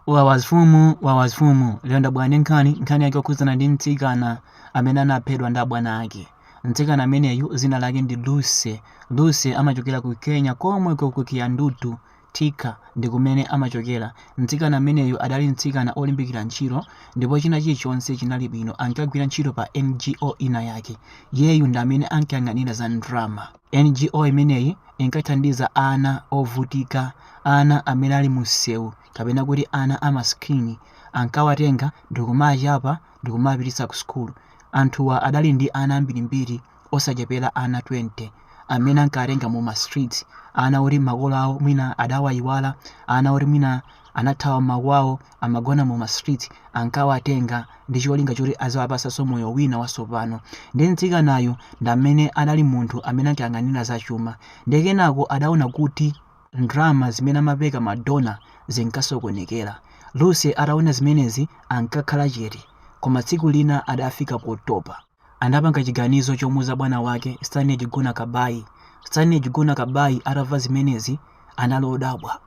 wawazifumu wawazifumu lero ndabwera ndi nkhani nkhani yake yokhudzana ndi mtsikana amene anaphedwa ndi abwana ake mtsikana ameneyu dzina lake ndi lucy lucy amachokera ku kenya komwe ku kiandutu tika ndi kumene amachokera mtsikana ameneyu adali mtsikana olimbikira ntchito ndipo china chilichonse chinali bwino ankagwira ntchito pa ngo ina yake yeyu ndi amene ankayang'anira za ndrama NGO imeneyi inkathandiza ana ovutika, ana amene ali mumsewu kapena kuti ana a masikini. Ankawatenga ndi kumawachapa ndi kumawapititsa kusukulu. Anthuwa adali ndi ana ambirimbiri osachepera ana 20 amene ankawatenga mu ma streets, ana oti makolo awo mwina adawaiwala, ana oti mwina anathawa makwawo. amagona mu ma street ankawatenga ndicholinga choti aziwapasaso moyo wina wasopano nde mtsikanayu ndamene adali munthu amene ankayang'anira za chuma nde kenako adaona kuti ndrama zimene amapereka ma donor zinkasokonekera Lucy ataona zimenezi ankakhala chete koma tsiku lina adafika potopa anapanga chiganizo chomuuza bwana wake Stanley Njuguna Kabai. Stanley Njuguna Kabai atamva zimenezi anali odabwa.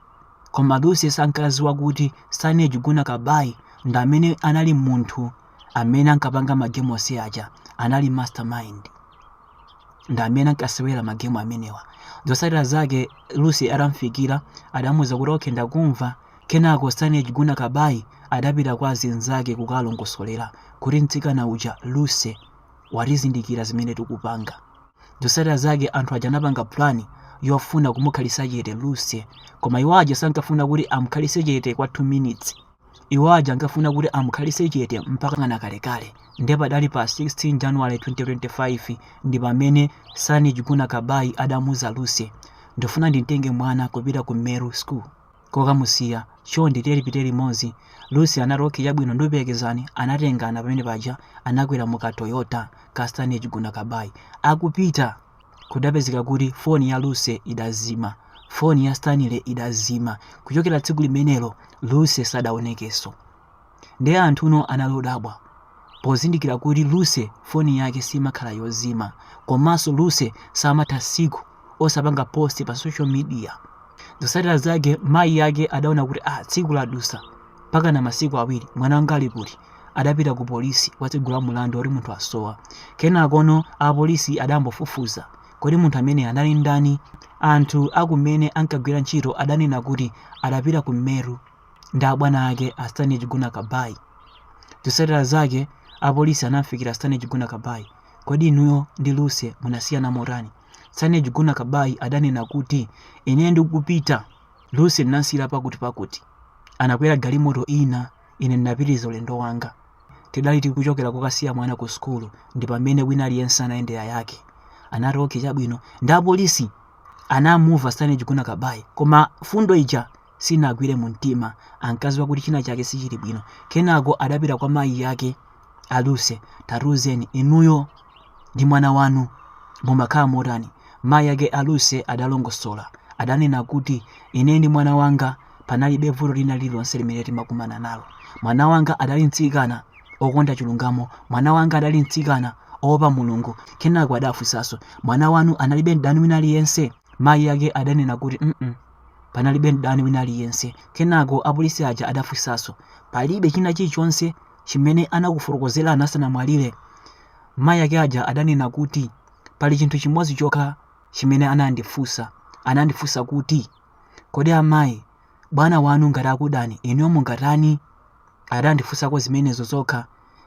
Koma Lucy sankadziwa kuti Stanley Njuguna Kabai ndi amene anali munthu amene ankapanga magemu onse aja, anali mastermind. Ndi amene ankasewera magemu amenewa. Zotsatira zake Lucy atamfikira adamuuza kuti okay ndakumva Kenako Stanley Njuguna Kabai adapita kwa azinzake kukalongosolera kuti mtsikana uja, Lucy, watizindikira zimene tikupanga. Zotsatira zake anthu aja anapanga plan yofuna kumukhalitsa chete Lucy, koma iwo aja sankafuna kuti amukhalitse chete kwa 2 minutes. Iwo aja ankafuna kuti amukhalitse chete mpakana kalekale. Ndipo padali pa 16 January 2025 ndi pamene Stanley Njuguna Kabai adamuuza Lucy, ndifuna ndimtenge mwana kupita ku Meru School. kokamusiya, chonde tiye tipite limodzi. Lucy anati ok chabwino ndikuperekezani anatengana pamene paja anakwera mu ka Toyota ka Stanley Njuguna Kabai akupita kudapezeka kuti foni ya Lucy idazima foni ya Stanley idazima kuchokera tsiku limenelo Lucy sadaonekeso. Ndiye anthu no anali odabwa pozindikira kuti Lucy foni yake simakhala yozima komanso Lucy samatha tsiku osapanga post pa social media. Zotsatira zake mayi ake adaona kuti ah tsiku ladutsa mpakana masiku awiri mwana wanga ali kuti? Adapita ku polisi kukatsegula mulandu oti munthu wasowa. Kenakono a polisi adayamba kufufuza kodi munthu amene anali ndani? Anthu akumene ankagwira ntchito adanena kuti adapita ku Meru. ndi abwana ake a Stanley Njuguna Kabai. Zotsatira zake, apolisi anam'fikira Stanley Njuguna Kabai. Kodi inuyo ndi Lucy munasiyana motani? Stanley Njuguna Kabai adanena kuti, Ine ndikupita, Lucy ndinam'siyira pakutipakuti. Anakwera galimoto ina, ine ndinapitiriza ulendo wanga. Tidali tikuchokera kokasiya mwana ku sukulu ndi pamene wina aliyense anayendera yake. Anati, Okay, chabwino. Ndi apolisi anamumva Stanley Njuguna Kabai, koma mfundo ija sinagwire mumtima. Ankadziwa kuti china chake sichili bwino. Kenako adapita kwa mayi ake a Lucy. Tatiuzeni, inuyo ndi mwana wanu mumakhala motani? Mayi ake a Lucy adalongosola. Adanena kuti, Ine ndi mwana wanga panalibe vuto lina lililonse limene timakumana nalo. Mwana wanga adali mtsikana okonda chilungamo. Mwana wanga adali mtsikana oopa Mulungu. Kenako adafunsanso, Mwana wanu analibe mdani wina aliyense? Mayi ake adanena kuti, mm Panalibe mdani wina aliyense. Kenako apolisi aja adafunsanso, Palibe china chilichonse chimene anakufotokozerani asanamwalire? Mayi ake aja adanena kuti, Pali chinthu chimodzi chokha chimene anandifunsa. Anandifunsa kuti, Kodi amayi, bwana wanu ngati akudani, inuyo mungatani? Adandifunsako zimenezo zokha.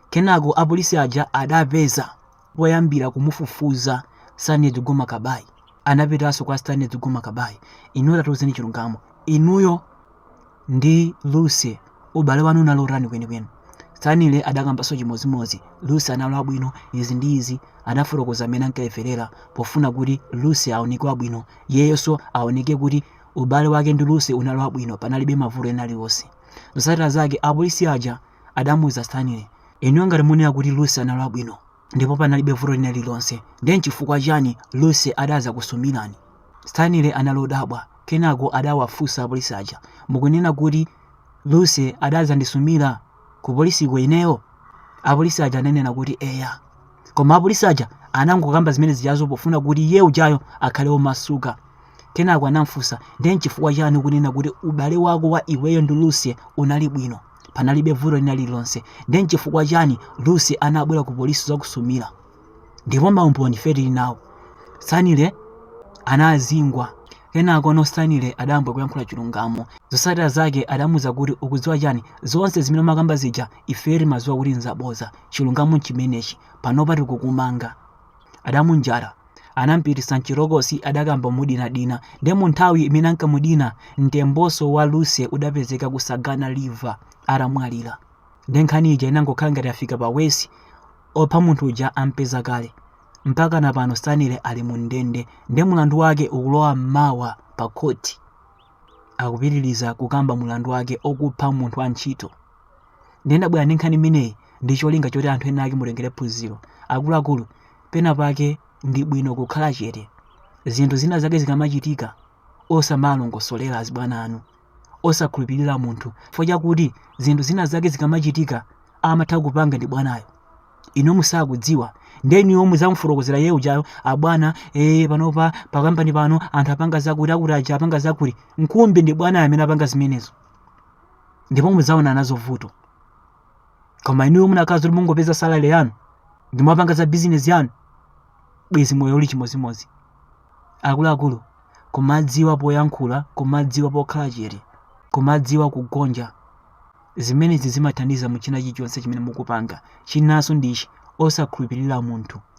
Kenako apolisi aja adapeza. poyambira kumufufuza Stanley Njuguna Kabai anapitaso kwa Stanley Njuguna Kabai inuyo tatiuzeni chilungamo inuyo ndi Lucy ubale wanu unali otani kwenikweni Stanley adakambaso chimodzimodzi Lucy anali wabwino izi ndi izi adafotokoza mmene ankayimverera pofuna kuti Lucy aoneke wabwino iyeyoso aoneke kuti ubale wake ndi Lucy unali wabwino panalibe mavuto ena aliwonse zotsatira zake apolisi aja adamuuza Stanley Inuyo ngati munena kuti Lucy anali wabwino ndipo panalibe vuto lina lililonse, ndiye n'chifukwa chiyani Lucy adadzakusumirani? Stanley anali odabwa kenako adawafunsa apolisi aja, Mukunena kuti Lucy adadzandisumira kupolisiko ineyo? Apolisi aja ananena kuti, Eya. Koma apolisi aja anangokamba zimene zijazo pofuna kuti iye ujayo akhale womasuka. Kenako anam'funsa, Ndiye n'chifukwa chiyani ukunena kuti ubale wako wa iweyo ndi Lucy unali bwino? panalibe vuto lina lililonse ndiye nchifukwa chani lucy anabwera ku polisi dzakusumira ndipo maumboni ife tili nawo stanley anazingwa kenakono stanley adayamba kuyankhula chilungamo zotsatira zake adamuuza kuti ukudziwa chani zonse zimene umakamba zija ife timadziwa kuti nzaboza chilungamo nchimenechi panopa tikukumanga adamunjata anampititsa mchitokosi adakamba mudinadina nde munthawi imene ankamudina mtembonso wa Lucy udapezeka ku Sagana River atamwalira nde nkhani ija inangokhala ngati afika pa worse opha munthu uja ampeza kale mpaka na pano Stanley ali mu ndende nde mulandu wake ukulowa mmawa pa khoti akupitiliza kukamba mulandu wake okupha munthu wa ntchito nde ndabwera ndi nkhani imeneyi ndi cholinga choti anthu ena ake mutengere phunziro akuluakulu pena pake ndi bwino kukhala chete zinthu zina zake zikamachitika osamalongosolera azibwana anu osakhulupirira munthu chifukwa chakuti zinthu zina zake zikamachitika amatha kupanga ndi bwanayo inu musakudziwa nde inuyo muzamufotokozera iye ujayo abwana ee panopa pakampani pano anthu apanga zakutizakuti aja apanga zakuti mkumbi ndi bwanayo amene apanga zimenezo ndipo muzaona nazo vuto koma inuyo munakakhala zoti mungopeza salary yanu ndi kumapanga za bizinesi yanu bwezi moyo uli chimodzimodzi akuluakulu kumadziwa poyankhula kumadziwa pokhala chete kumadziwa kugonja zimenezi zimathandiza mu china chilichonse chimene mukupanga chinanso ndichi osakhulupirira munthu